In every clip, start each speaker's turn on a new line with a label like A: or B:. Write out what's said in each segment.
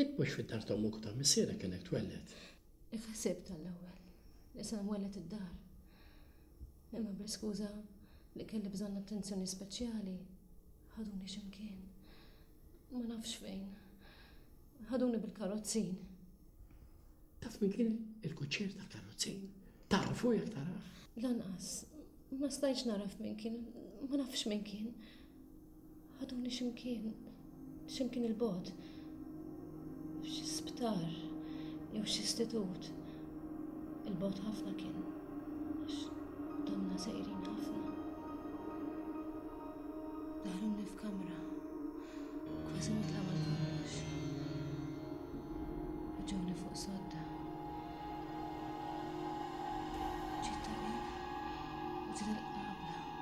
A: Int mhux fid-dar ta' ommok u ta' missierek kellek twelled. Kif ħsibt għall-ewwel li se nwelled id-dar. Imma bl-iskuża li kelli bżonn attenzjoni speċjali, ħaduni xi mkien. Ma nafx fejn. Ħaduni bil-karozzin. Taf min kien il-kuċċier tal-karozzin? Tafu jekk tarah? Lanqas, ma stajtx naraf min kien, ma nafx min kien. Ħaduni x'imkien, x'imkien il-bogħod, f'xi sptar jew xi istitut. Il-bogħod ħafna kien, għax domna sejrin ħafna. Daħluni f'kamra, kważi ma tagħmel kollox. Ġewni fuq sodda.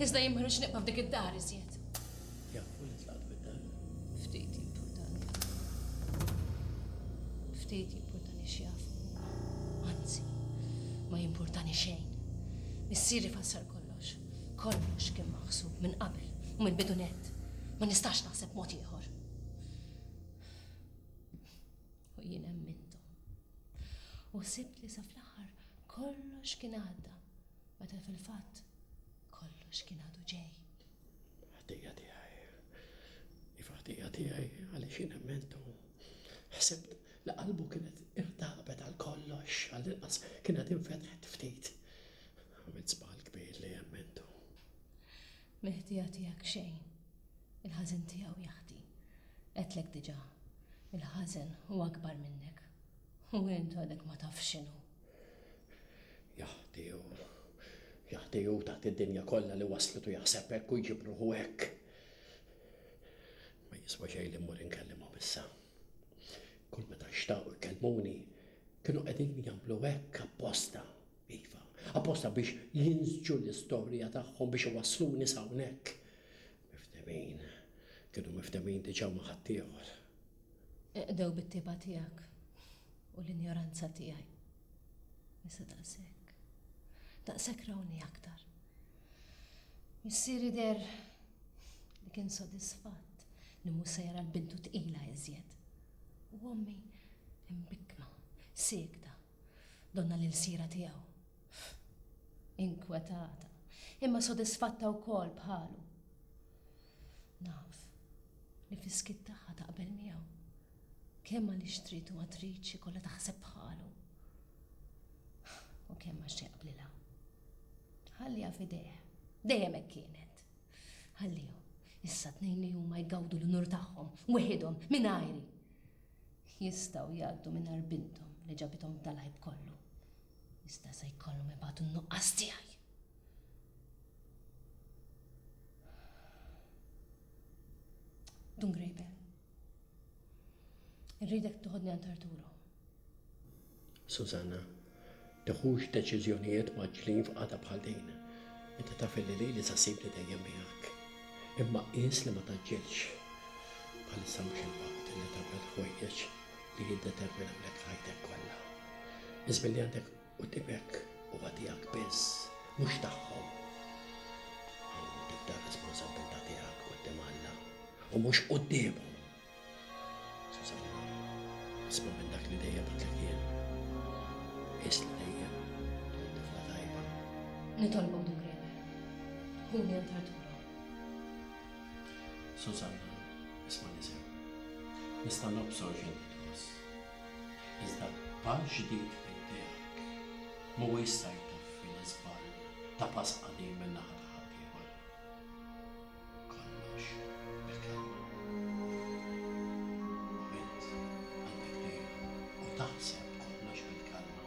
A: Iżda jien ma rridx nibqa' f'dik id-dar iżjed. Missieri fassar kollox. Kollox kien maħsub minn qabel u minn bidunet. Ma nistax naħseb mod ieħor. U jien emmintu. U sibt li sa fl-aħħar kollox kien għadda. Meta fil-fatt kollox kien għadu ġej. Ħtija tiegħi. Iva ħtija tiegħi għaliex jien emmentu. Ħsibt li qalbu kienet irtabet għal kollox, għal inqas kienet infetħet ftit. Għamilt żball kbir li emmentu. Mill-ħtija tiegħek xejn. Il-ħażen tiegħu jaħti. Qedlek diġà. Il-ħażen huwa akbar minnek. U int għadek ma tafx x'inhu. Jaħdiju, jaħdiju taħt id-dinja kollha li waslet u jaħseb hekk u jġib ruħu hekk. Ma jiswa xejn li mmur inkellimhom issa. Kull meta xtaqu jkellmuni, kienu qegħdin jagħmlu hekk apposta, iva, apposta biex jinżġu l-istorja tagħhom biex iwassluni sawnek. Miftemin, kienu miftemin diġà ma' ħaddieħor. Iqdew bit-tibgħa tiegħek u l-injoranza tiegħi. Nisa daqshekk. Daqshekk rawni aktar. Missieri deher li kien sodisfatt li mhu se jara l-bintu tqila iżjed. U ommi imbikkma, siekta, donna l-ilsiera tiegħu. Inkwetata, imma sodisfatta wkoll bħalu. Naf li fis-skiet tagħha taqbel miegħu. Kemm għaliex trid u ma tridx ikollha taħseb bħalu. U kemm għax jaqblilha. Ħalliha f'idejh. Dejjem hekk kienet. Ħalliha. Issa tnejn li huma jgawdu l-unur tagħhom, weħidhom, minn ajri. Jistgħu jgħaddu minn bintom li ġabithom tal-ħajb kollu. Iżda se jkollhom ibatu n-nuqqas tiegħi. Dun Grejben. Irridek tuħodni għand Arturo. Susanna, teħux deċiżjonijiet maġlin f'qata bħal din. Inti taf li li li sasib li dejjem miegħek. Imma qis li ma taġġilx. Bħalissa mhux il-waqt li tagħmel ħwejjeġ li jiddetermina lek f'ħajtek kollha. Biss billi għandek qudimek huwa tiegħek biss, mhux tagħhom. Hawn tibda r-responsabbiltà tiegħek quddiem Alla u mhux quddiemhom. Sużanna, isma' minn dak li dejjem għidlek jien. Qis li dejjem kont tifla tajba. Nitolbok Dukriper, ħuni għand Arturo. Susanna, Ismagħni sew. Nista' nobsor x'inti tħoss. Iżda b'għax ġdid fid-dehak m'huwa jista' jtaffi l-iżball ta' pass qadim min-naħa ta' ħaddieħor. Kollox bil-kelma. Bint għandha kbira u taħseb kollox bil-kelma.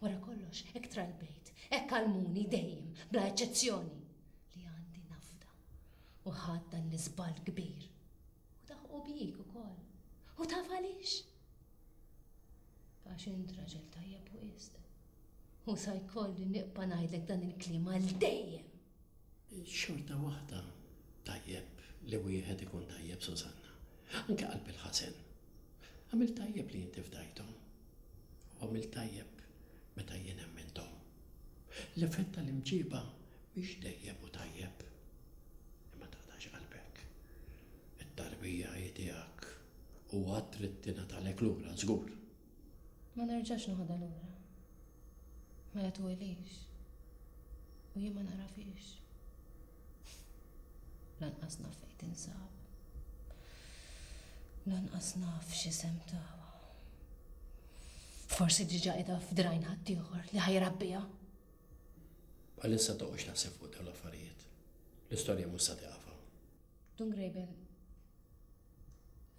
A: Wara kollox, hekk tra l-bejt, hekk għallmuni dejjem, bla eċċezzjoni, li għandi nafda. U ħadt dan l-iżball kbir. U daħqu bik ukoll. U taf għaliex? Għax int raġel tajjeb wisq. U sa jkolli niqpa' ngħidlek dan il-kliem għal dejjem. Xorta waħda tajjeb li wieħed ikun tajjeb Susanna. Anke qalb il-ħażen. Għamilt tajjeb li inti fdajthom. U għamilt tajjeb meta jien emminthom. L-effett tal-imġieba mhix dejjem hu tajjeb. Imma taqtax qalbek. It-tarbija hi tiegħek u għad trid tingħatalek lura żgur. Ma nerġax noħodha lura. Mela twelix. U jien ma nagħrafhiex. Lanqas naf fejn tinsab. Lanqas naf x'isem tawa. Forsi diġà qiegħda f'drajn ħaddieħor li ħajrabbiha. Bħalissa toqgħodx taħseb fuq dawn l-affarijiet. L-istorja mhux sa tiqaf hawn. Dun Graben,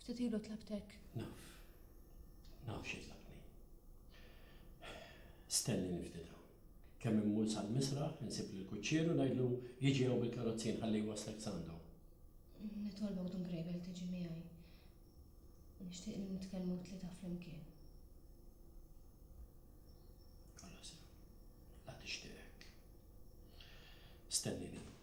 A: ftit ilu tlabtek. Naf. Naf xi tlabtni. Stenni ftit hawn. Kemm immur sal-misraħ, insib lill-kuċċier u ngħidlu jiġi hawn bil-karozzi nħalli jwasslek s'għandu. Nitolbok Dun Graben tiġi miegħi. Nixtieq nitkellmu t-tlieta flimkien. Alla sew. La tixtieqek. Stennini.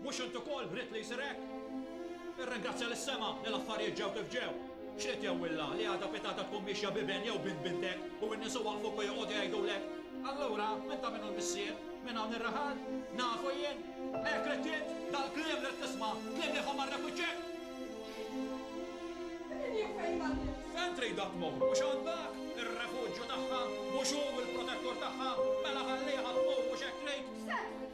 A: Mhux int ukoll ridt li jsir hekk? Irringrazzja lis-sema li l-affarijiet ġew kif ġew. X'ridt jgħwilha li għada pitgħada tkun miexja b'iben jew bint bintek u n-nies iwaqqfuk u joqogħdu jgħidulek, Allura, minn ta' min hu l-missier? Minn hawn ir-raħal? Nafu jien! Hekk ridt int? Dal-kliem ridt tisma'? Kliem li jħomm għar-rep u ċ-ċekk? Min jaf fejn għaddiet? Fejn tridha tmur? Mhux hawn dak? Ir-refuġju tagħha? Mhux hu l-protettur tagħha? Mela ħalliha tmur, mhux hekk trid? X'se trid?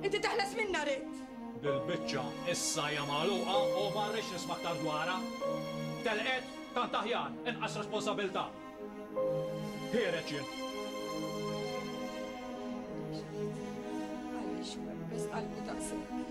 A: Inti teħles minnha ridt! Bil-biċċa issa hija magħluqa u ma rridx nisma' aktar dwarha. Telqet? Tant aħjar, inqas responsabilità. Ħiereġ jien. Għaliex webbes qalbu daqshekk?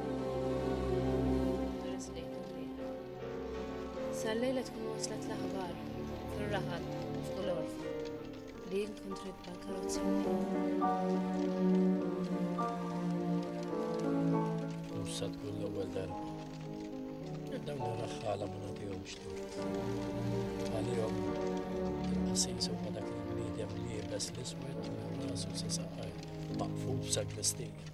A: Sal-lejla tkun waslet l-aħbar fil-raħal fuq l-orf li jinkontri bħal-karozzi. Musa tkun l-ewwel darba. Dawn ir-raħħala ma nagħtihomx tort. Għalihom il-qasis huma dak il-bniedem li jibes l-iswed minn rasu sa saqaj maqfuf sa' glistija.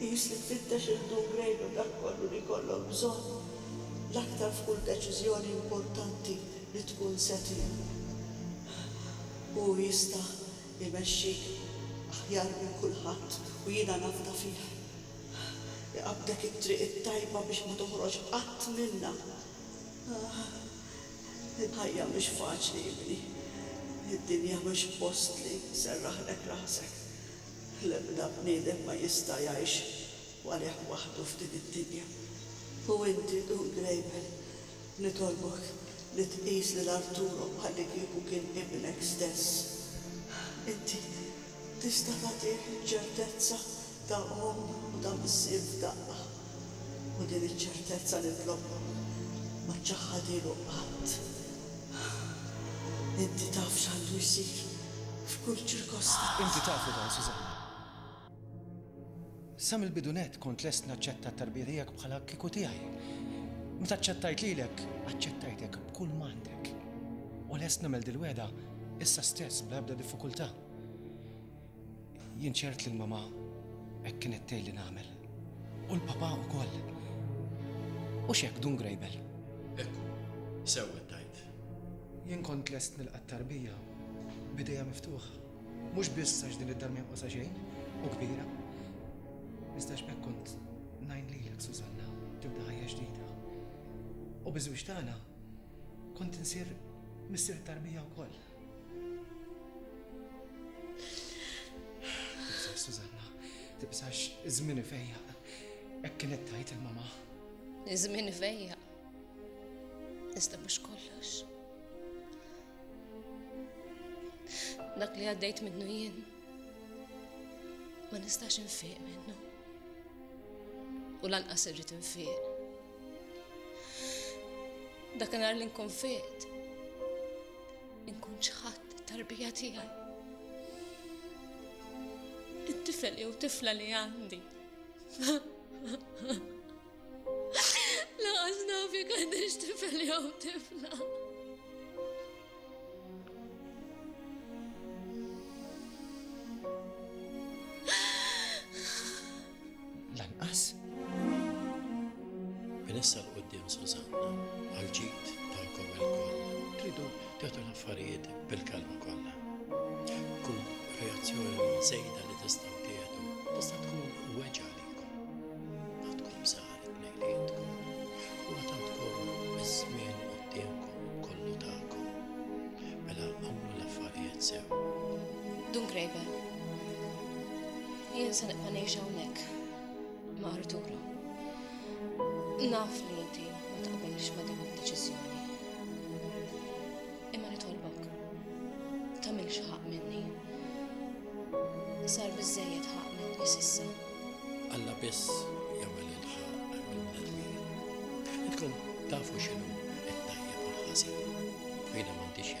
A: Tqis li tfittex il-downgrade u dak kollu li jkollok bżonn l-aktar f'kull deċiżjoni importanti li tkun se tieħu. Hu jista' jmexxik aħjar minn kulħadd u jiena nafda fih. Iqabbdek it-triq it-tajba biex ma toħroġ qatt minnha. Il-ħajja mhix faċli, ibni. Id-dinja mhix post li serraħlek rasek. L-ebda bniedem ma jista' jgħix għalih waħdu f'din id-dinja. U inti, Dun Grejmel, nitolbok li tqis lil Arturo bħallikieku kien ibnek stess. Inti tista' tagħtih iċ-ċertezza ta' omm u ta' missier f'daqqa. u din iċ-ċertezza nitlobha ma ċċaħħadilu qatt. Inti taf x'għandu jsir f'kull ċirkostanza. Inti taf li dan, Susanna. Sa mill-bidu nett kont lest naċċetta t-tarbija tiegħek bħala kieku tiegħi. Meta ċċettajt lilek, aċċettajtek b'kull m'għandek. U lest nagħmel dil-wegħda issa stess bla ebda diffikultà. Jien ċert li l-mama hekk kienet tgħid li nagħmel. U l-papa wkoll. U x'hekk dun grejbel. Ekku, sewwa tajt. Jien kont lest nilqa' tarbija bidejja miftuħa. Mhux biss għax din id-dar ma xejn u kbira. Iżda x'hekk kont ngħin lilek Susanna tibda ħajja ġdida. U biżwiex tagħna kont insir missier tarbija wkoll. Susanna, tibsax iż-żmien ifejja. Hekk kienet tajt il-mama. Iż-żmien ifejja. Iżda mhux kollox. Dak li għaddejt minnu jien ma nistax infiq minnu. U lanqas irrid infiq. Dak nhar li nkun fiqt Inkun ċħadt it-tarbija tiegħi. It-tifel jew tifla li għandi. Laqas naf jekk għandix tifel jew tifla. Lanqas. Minn issa l quddiem Susanna għal ġid tagħkom ilkoll. Tridu tagħtu l-affarijiet bil-kalma kollha. Kull reazzjoni żejda li tistgħu tieħdu tista' tkun weġa' Graeber. Jien se nibqa' ngħix hawnhekk ma' Arturo. Naf li inti ma taqbilx ma' din id-deċiżjoni. Imma nitolbok, tagħmilx ħaq minni. Sar biżejjed ħaq minni s'issa. Alla biss jagħmel il-ħaq mill-bnedmin. Intkom tafu x'inhu t-tajjeb u l-ħażin. Jiena m'għandix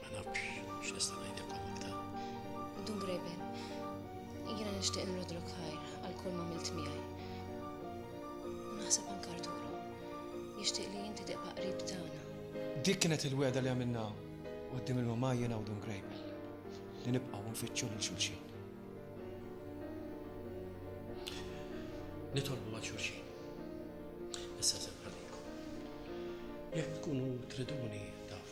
A: Ma nafx x'nista' ngħidilkom aktar. Dun Greben, jiena nixtieq nrodlok ħajr għal kull ma milt miegħi. U naħseb anke Arturo, jixtieq li inti tibqa' qrib tagħna. Dik kienet il-wegħda li għamilna quddiem il-mamma jiena u Dun Greben li nibqgħu nfittxu lil xulxin. Nitolbu għal xulxin. Issa żemħalikom. Jekk tkunu triduni taf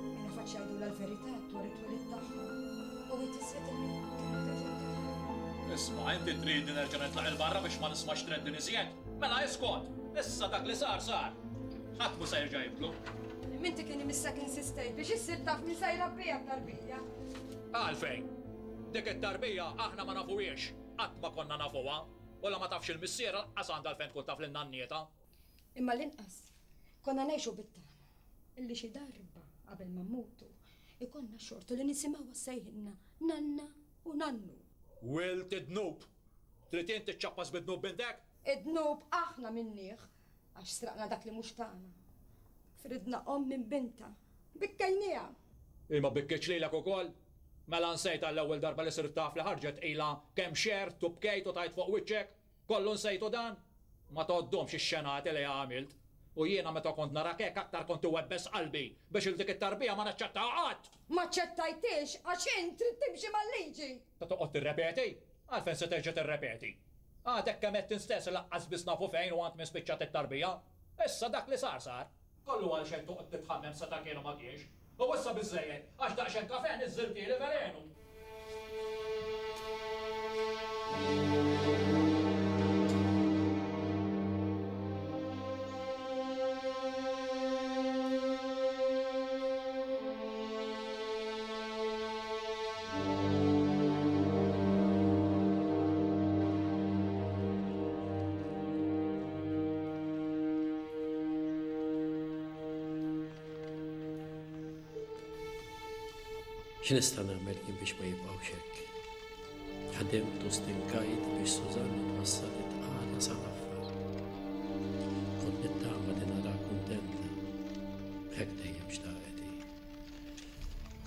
A: Minn faċċ jgħidulha l-verità dwar it-twelid tagħha u hi tislet il-ħin. Isma', inti tridni nerġa' nitlaq 'il barra biex ma nismax treddin iżjed? Mela iskot! Issa dak li sar sar. Ħadd mhu se jerġa' jibdlu. M'inti kien imissek insistejt biex issir taf min se jrabbiha t-tarbija. Għalfejn? Dik it-tarbija aħna ma nafuhiex, qatt ma konna nafuha, u la ma tafx il-missier lanqas għandha għalfejn tkun taf lil nannietha. Imma l-inqas Konna ngħixu bit-tama illi xi darba qabel ma mmutu ikollna xortu li nisimgħuha ssejħilna nanna u nannu. Wild id-dnub! Trid int tiċċappas bid-dnub b'indek? Id-dnub aħna minnieh għax sraqna dak li mhux tagħna. Fridna omm minn bintha. Bikkejnieha! Hi ma bikkietx lilek ukoll? Mela nsejtha l-ewwel darba li sirt taf li ħarġet ilha kemm xerrdt u bkejt u tajt fuq wiċċek? Kollu nsejtu dan? Ma tgħoddhomx ix-xenati li għamilt? U jiena meta kont narak hekk aktar kont iwebbes qalbi biex 'il dik it-tarbija ma naċċettaha qatt! M'aċċettajthiex għax int trid timxi mal-liġi! Ta' toqgħod tirrepeti? Għalfejn se terġa' tirrepeti? Għadek kemm għedt int stess li lanqas biss nafu fejn u għand min spiċċat it-tarbija! Issa dak li sar sar! Kollu għalxejn toqgħod titħammem sa ta' kienu ma kienx. U issa biżżejjed, għax daqsxejn kafè niżżiltieli velenu. X'nista' nagħmel kien biex ma jibqgħux hekk. Ħadimt u stinkajt biex Sużanna twassal it-tqala sa l-affar. Kont nittama li nara kuntenta. Hekk dejjem xtaqet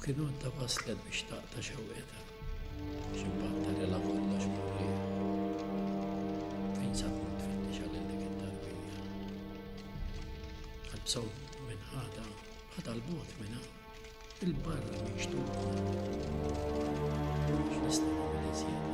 A: Kien għandha waslet biex taqta' xewqetha. Xi batta li la kollox murrieħ. Fejn sabu tfittixa lil dik it-tarbija. Qalbsow minn ħada, ħada l-bot minna, il-barra minn xtuqa. X'nista' nagħmel iżjed.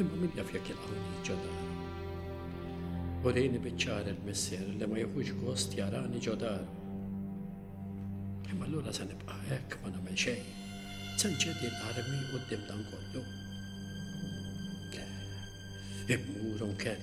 A: Imma min jaf jekk jilqgħuni ġodar. U rejni biċċar il-missier li ma jħux gost jarani ġodar. Imma l-ura se nibqa' hekk ma nagħmel xejn. Se nċedi l-armi u d-dim dan kollu. Immur unkell.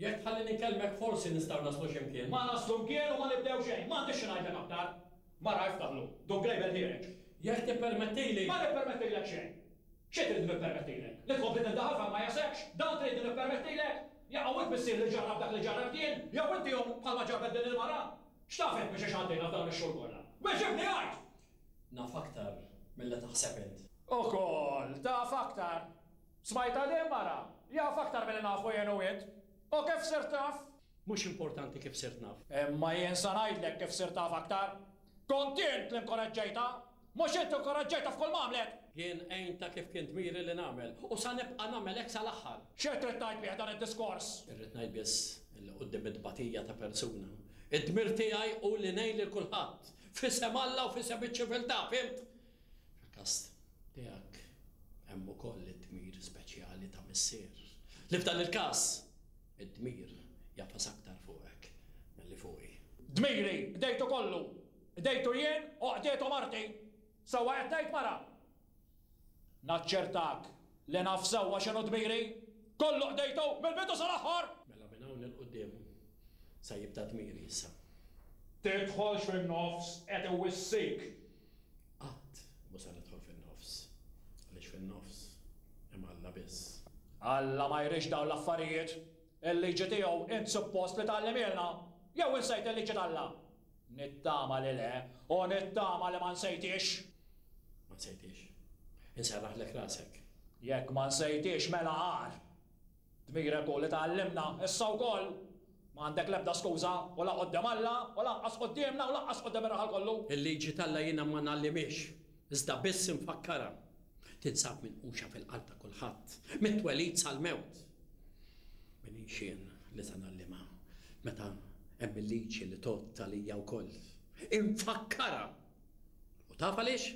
A: Jekk tħalli nikelmek forsi nistgħu naslu xi mkien. Ma naslu mkien u ma nibdew xejn. M'għandix xi ngħidlek aktar. Mara iftaħ lu. Dun Grejbel ħiereġ. Jekk tippermettili. Ma nippermettilek xejn. Xi trid li nippermettilek? Li tkompli tindaħal f'hemm ma jasekx? Dan trid li nippermettilek? Jaqaw hi tmissier li ġarrabt dak li ġarrabt jien? Jew inti hu bħalma ġarrbet din il-mara? X'taf int minn xiex għaddejna f'dawn ix-xhur kollha? Weġibni għid! Naf aktar milli taħseb int. Ukoll taf aktar! Smajt għalih mara? Jaf aktar milli nafu jien u int. U kif sirt naf? Mhux importanti kif sirt naf. Imma jien sa ngħidlek kif sirt taf aktar. Kont int li nkoraġġejtha. Mhux int li nkoraġġejtha f'kull m'għamlet! Jien għintha kif kien dmiri li nagħmel. U sa nibqa' nagħmel hekk sal-aħħar. X'qed trid tgħid bih dan id-diskors? Irrid ngħid biss li quddiem it-tbatija ta' persuna, id-dmir tiegħi hu li ngħin lil kulħadd, f'isem Alla u f'isem iċ-ċiviltà, fhimt? Fil-każ tiegħek hemm ukoll id-dmir speċjali ta' missier, li f'dan il-każ, id-dmir jagħfas aktar fuqek milli fuqi. Dmiri, qdejtu kollu! Qdejtu jien u qdietu marti! Sewwa qed ngħid, mara? Naċċertak li naf sewwa x'inhu dmiri! Kollu qdejtu, mill-bidu sal-aħħar! Mela minn hawn 'il quddiem se jibda dmiri issa. Tidħolx fin-nofs, qed iwissik! Qatt mhu se nidħol fin-nofs, għaliex fin-nofs hemm Alla biss. Alla ma jridx dawn l-affarijiet. Il-liġi tiegħu int suppost li tgħallimhielna? Jew insejt il-liġi t'Alla? Nittama li le, u nittama li ma nsejthiex. Ma nsejthiex. Inserraħlek rasek. Jekk ma nsejthiex mela agħar. Dmirek hu li tgħallimna issa wkoll. M'għandek l-ebda skuża, u la quddiem Alla, u lanqas quddiemna, u lanqas quddiem ir-raħal kollu. Il-liġi t'Alla jiena ma ngħallimhiex, iżda biss infakkarha. Tinsab minquxa fil-qalb ta' kulħadd, mit-twelid sal-mewt. Min hi x'jien li se ngħallimha, meta hemm il-liġi li tgħodd għalija wkoll? Infakkarha! U taf għaliex?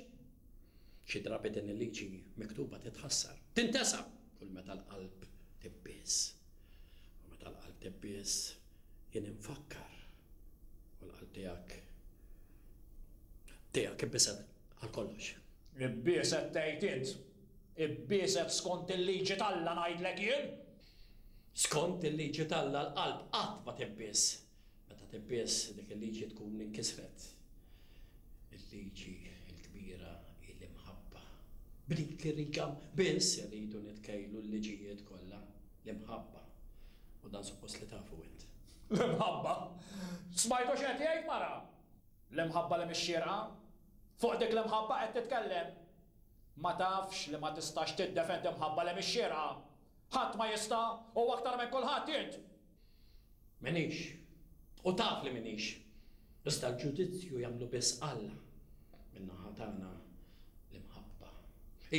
A: Xi drabi din il-liġi miktuba titħassar. Tintesa! Kull meta l-qalb tibbies. U meta l-qalb tibbies, jien infakkar. U l-qalb tiegħek tiegħek ibbiset għal kollox. Ibbieset tgħid int. Ibbieset skont il-liġi t'Alla ngħidlek jien. Skont il-liġi t'Alla l-qalb qatt ma tibbies. Meta tibbies dik il-liġi tkun inkisret il-liġi l-kbira hi l-imħabba. B'dik ir-riga biss irridu nitkejlu l-liġijiet kollha, l-imħabba. U dan suppost li tafu int. L-imħabba? Smajtu x'qed jgħid mara? L-imħabba li mhix xierqa? Fuq dik l-imħabba qed titkellem? Ma tafx li ma tistax tiddefendi mħabba li mhix xierqa? Ħadd ma jista' u aktar minn kulħadd int! M'iniex, u taf li m'iniex, iżda l-ġudizzju jagħmlu biss Alla. Min-naħa tagħna, l-imħabba.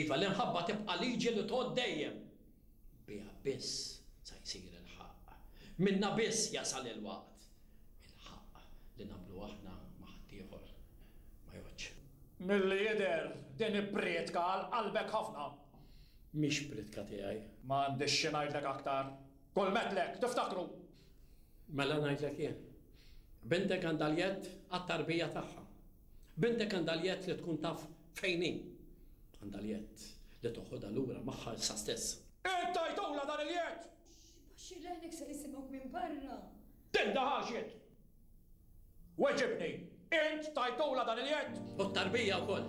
A: Iva, l-imħabba tibqa' liġi li tgħodd dejjem. Biha biss sa jsir il-ħaqq. Minnha biss jasal il-waqt. Il-ħaqq li nagħmlu aħna ma' ħaddieħor ma jgħoddx. Milli jidher, din hi prietka għal qalbek ħafna. Mhix prietka tiegħi. Ma għandix xi ngħidlek aktar. Kull methlek, tiftakru! Mela ngħidlek jien. Bintek għandha l-jedd għat-tarbija tagħha. Bintek għandha l-jedd li tkun taf fejn hi. Għandha l-jedd li toħodha lura magħha issa stess. Int tajtulha dan il-jedd! Baxxir l-għajnek ser isimgħuk minn barra! Tindaħal x'int! Weġibni, int tajtulha dan il-jedd? U t-tarbija wkoll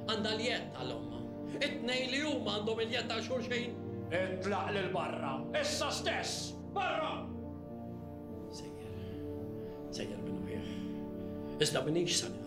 A: għandha l-jedd għal ommha. It-tnejn li huma għandhom il-jedd għal xulxin. Itlaq lil barra, issa stess! Barra! Sejjer, sejjer minn uħieh. Iżda m'iniex sa nieqaf hawn.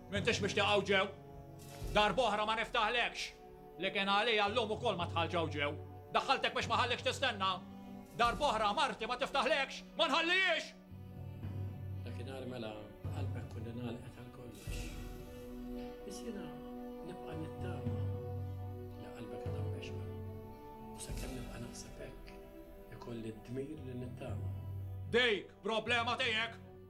A: M'intix mixtieq hawn ġew. Darb'oħra ma niftaħlekx. Li kien għalija llum ukoll ma dħaltx hawn ġew. Daħħaltek biex ma ħallikx tistenna. Darb'oħra marti ma tiftaħlekx, ma nħallihiex! Dakinhar mela qalbek kolli ngħalqet għal kollox. Biss jiena nibqa' nittama li qalbek għadha mexba. U sakemm nibqa' naħseb hekk, ikolli d-dmir li nittama. Dik problema tiegħek!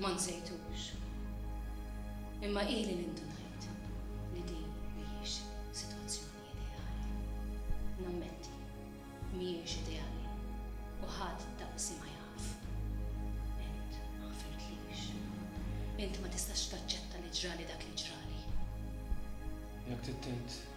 A: Ma nsejtux, imma ili li ndunajt li din mhijiex sitwazzjoni ideali. Nammetti, mhijiex ideali u ħadd daqsi ma jaf. Int ma ħfirtlix. Int ma tistax taċċetta li ġrali dak li ġrali. Jekk trid tgħid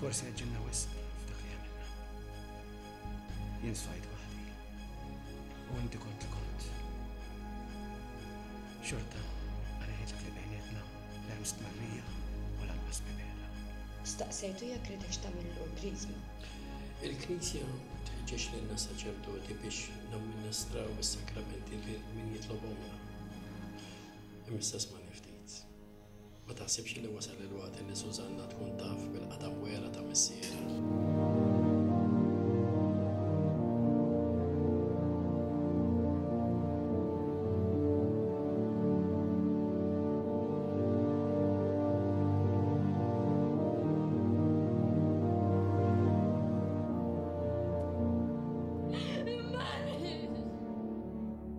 A: Forsi għeġġilna wisq f'dak li għamilna. Jien sfajt waħdi. U inti kont li kont. Xorta, għaliex dak li bejnietna la hemm stmarrija u lanqas mibegħda. Staqsejtu jekk ridekx tagħmillu l-Kriżma. Il-Knisja tħeġġeġ lilna saċerdoti biex namministraw is-sakramenti lil min jitlobhomlna. Imissa smani ftit. Ma taħsibx li wasal il-waqt li Sużanna tkun taf bil-qatgħa wera ta' missierha?